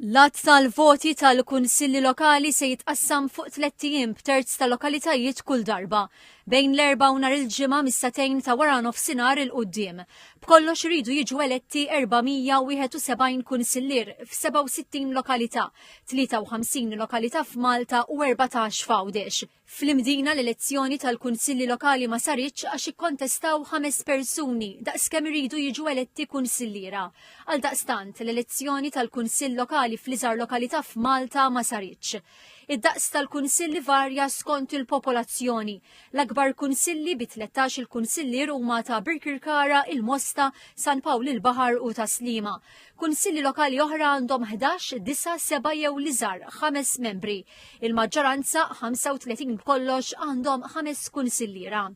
L-għadd tal-voti tal-Kunsilli Lokali se jitqassam fuq tlett ijiem b'terz tal-lokalitajiet kull darba, bejn l-Erbgħa u nhar il-Ġimgħa mis-sagħtejn ta' waranofsinhar 'il quddiem. B'kollox iridu jiġu eletti 471 kunsillier f'67 lokalità, 53 lokalità f'Malta u erbatax f'Għawdex. Fl-Imdina l-elezzjoni tal-Kunsilli Lokali ma saritx għax ikkontestaw ħames persuni daqs kemm iridu jiġu eletti kunsilliera. Għaldaqstant, l-elezzjoni tal-Kunsill Lokali fl-iżgħar lokalità f'Malta ma saritx. Id-daqs tal-Kunsill ivarja skont il-popolazzjoni. L-akbar Kunsilli bi tlettax-il Kunsillier huma ta' Birkirkara, il-Mosta, San Pawl il-Baħar u ta' Sliema. Kunsilli Lokali oħra għandhom ħdax, disa', seba' jew l-iżgħar, ħames membri. Il-maġġoranza, 35 b'kollox, għandhom ħames kunsilliera.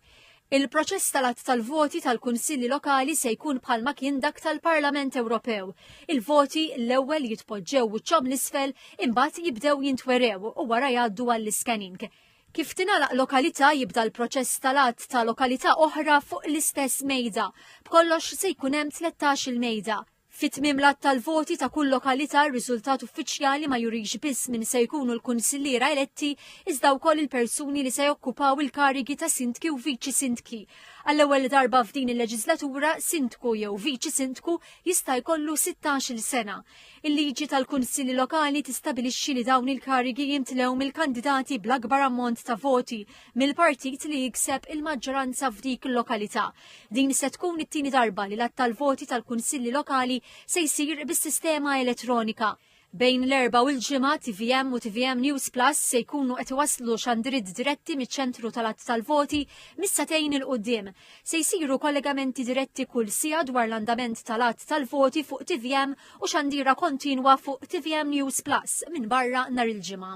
Il-proċess tal-att tal-voti tal-Kunsilli Lokali se jkun bħalma kien dak tal-Parlament Ewropew. Il-voti l-ewwel jitpoġġew wiċċhom l-isfel imbagħad jibdew jintwerew u wara jgħaddu għall-iscanning. Kif tingħalaq lokalità jibda l-proċess tal-att ta' lokalità oħra fuq l-istess mejda. B'kollox se jkun hemm 13 il-mejda. Fi tmiem l-għadd tal-voti ta' kull lokalità r-riżultat uffiċjali ma jurix biss min se jkunu l-kunsilliera eletti iżda wkoll il-persuni li se jokkupaw il-karigi ta' sindki u viċi sindki. Għall-ewwel darba f'din il-leġislatura, sindku jew viċi sindku jista' jkollu sittax-il sena. Il-liġi tal-kunsilli lokali tistabilixxi li dawn il-karigi jimtlew mill-kandidati bl-akbar ammont ta' voti mill-partit li jikseb il-maġġoranza f'dik il-lokalità. Din se tkun it-tieni darba li l-għadd tal-voti tal-Kunsilli Lokali se jsir bis-sistema elettronika. Bejn l-Erbgħa u l-Ġimgħa, tvm u tvm News Plus se jkunu qed iwasslu xandiriet diretti miċ-ċentru tal-għadd tal-voti mis-sagħtejn 'il quddiem. Se jsiru kollegamenti diretti kull siegħa dwar l-andament tal-għadd tal-voti fuq tvm u xandira kontinwa fuq tvm News Plus minbarra nhar il-Ġimgħa.